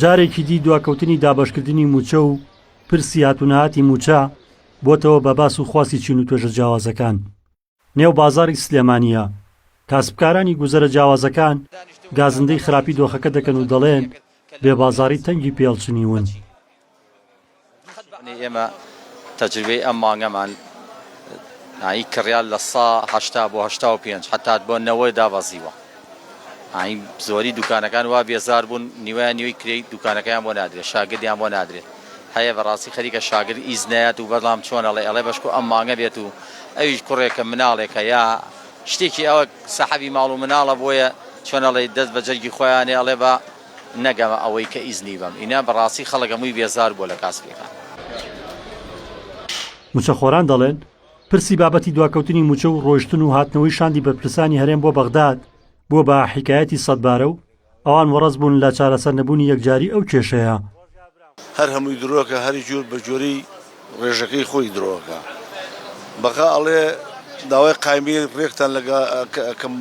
جارێکی دی دواکەوتنی دابەشکردنی مووچە و پرسی هاتوونەهاتی مووچە بۆتەوە بە باس و خواستی چین و توێژە جیاوازەکان نێو بازاری سلێمانیە کاسبکارانی گوزەرە جیاوازەکان گازندەی خراپی دۆخەکە دەکەن و دەڵێن بێ بازاری تەنگی پێڵچنیون ئێمە تەجروبەی ئەم مانگەمان ئاین کڕیار لە سا هەشتا بۆ هەشتا و پێنج حتات بۆ نەوەی دابەزیوە ئاین زۆری دوکانەکان وا بێزار بوون نیوە نیوی کرێی دوکانەکەیان بۆ نادرێت شاگردیان بۆ نادرێت هەیە بەڕاستی خەریکە شاگرد ئیز نایەت و بەڵام چۆنەڵێ ئەڵێ بەشکو ئەم مانگە بێت و ئەویش کوڕێکە مناڵێکە یا شتێکی ئەوە سەحەبی ماڵ و مناڵە بۆیە چۆنەڵی دەست بە جەرگی خۆیانێ ئەڵێ بە نەگەمە ئەوەی کە ئیزنی بەم ئینا بەڕاستی خەڵک هەمووی بێزار بووە لە کاسپیەکان. موچەخۆران دەڵێن، پرسی بابەتی دواکەوتنی موچە و ڕۆیشتن و هاتنەوەی شاندی بەرپرسانی هەرێم بۆ بەغداد بووە بە حیکایەتی سەدبارە و ئەوان وەڕەز بوون لە چارەسەرنەبوونی یەکجاری ئەو کێشەیە. هەر هەمووی درۆکە هەری جور بە جۆری ڕێژەکەی خۆی درۆکە بەقا ئەڵێ داوای قایمەی ڕێکتان لە کەم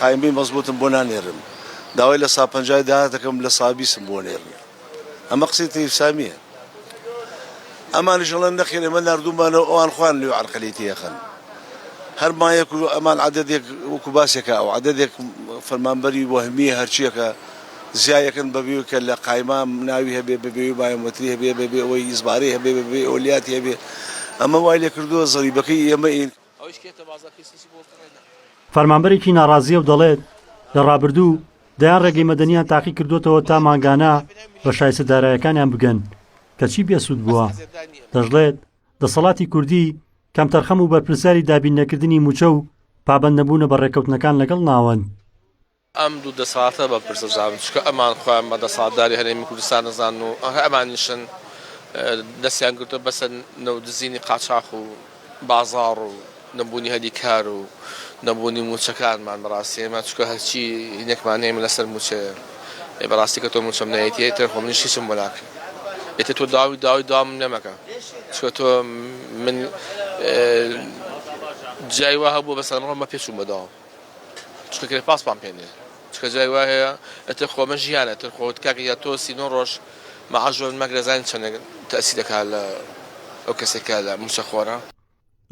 قایمەی مەزبوتم بۆ نانێرن داوای لە سا پەنجای داهاتەکەم لە سابیسم بۆ نێرن ئەمە قسەی تەیف سامیە ئەمانیش ئەڵێن نەخێر ئێمە ناردومانەوە ئەوان خوان لێ عەرقەلی تێخن هەر مایەک ئەمان عەدەدێک وەکو باسێکە ئەو عەدەدێک فەرمانبەری وەهمیە هەرچیەکە زیا یەکن بە بێ کە لە قایمە ناوی هەبێ بە بێ بایۆمەتری هەبێ بە بێ ئەوەی ئیزبارەی هەبێ بە بێ ئەوە لیاتی هەبێ ئەمە وای لێ کردووە زەریبەکەی ئێمە ین. فەرمانبەرێکی ناڕازییە و دەڵێت، لە ڕابردوو دەیان ڕێگەی مەدەنییان تاقی کردووەتەوە تا مانگانە بە شایستە دارایەکانیان بگەن، کەچی بێسوود بووە. دەشڵێت، دەسەڵاتی کوردی کەمتەرخەم و بەرپرسیاری دابیننەکردنی مووچە و پابەندنەبوونە بە ڕێککەوتنەکان لەگەڵ ناوەند. ئەم دوو دەسەڵاتە بە پرسە زانن چونکە ئەمان خۆیان بە دەسەڵاتداری هەرێمی کوردستان ئەزانن و ئەها ئەمانیشن دەستیان گرتوە بەسە نەوت دزینی قاچاخ و بازاڕ و نەبوونی هەلی کار و نەبوونی مووچەکانمان بەڕاستی ئێمە چونکە هەرچی هینێکمان هەیە ئێمە لەسەر مووچەیە ئێ بەڕاستی کە تۆ مووچەم نایەتی ئیتر خۆ منیش هیچم بۆ ناکەی ئیتر تۆ داوی داوی داوام لێ مەکە چونکە تۆ من جای وا هەبووە بەسەرمڕۆ مە پێچووم بە داوام چکە گرێ پاسپان پێ نیە چکە جای وای هەیە ئەتر خۆمە ژیانە تر خۆت کاکە یا تۆ سینۆ ڕۆژ مەعاش بەر مەگرە زانین چەندێک تەسی دەکات لە ئەو کەسێکە لە موچە خۆرە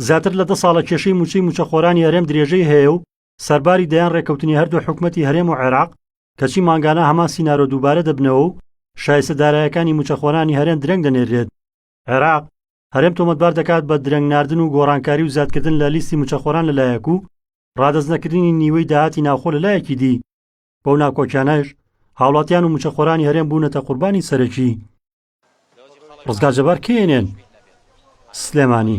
زیاتر لە دە ساڵە کێشەی موچەی موچەخۆرانی هەرێم درێژەی هەیە و سەرباری دەیان ڕێکەوتنی هەردوو حکومەتی هەرێم و عێراق کەچی مانگانە هەمان سینارۆ دووبارە دەبنەوە و شایستە دارایەکانی موچەخۆرانی هەرێم درەنگ دەنێرێت. عێراق، هەرێم تۆمەتبار دەکات بە درەنگ ناردن و گۆڕانکاری و زیادکردن لە لیستی مووچەخۆران لەلایەک و ڕادەست نەکردنی نیوەی داهاتی ناوخۆ لەلایەکی دی، بەو ناکۆکیانەش هاوڵاتیان و مووچەخۆرانی هەرێم بوونەتە قوربانی سەرەکی. ڕزگار جەبار، کەیەنێن، سلێمانی.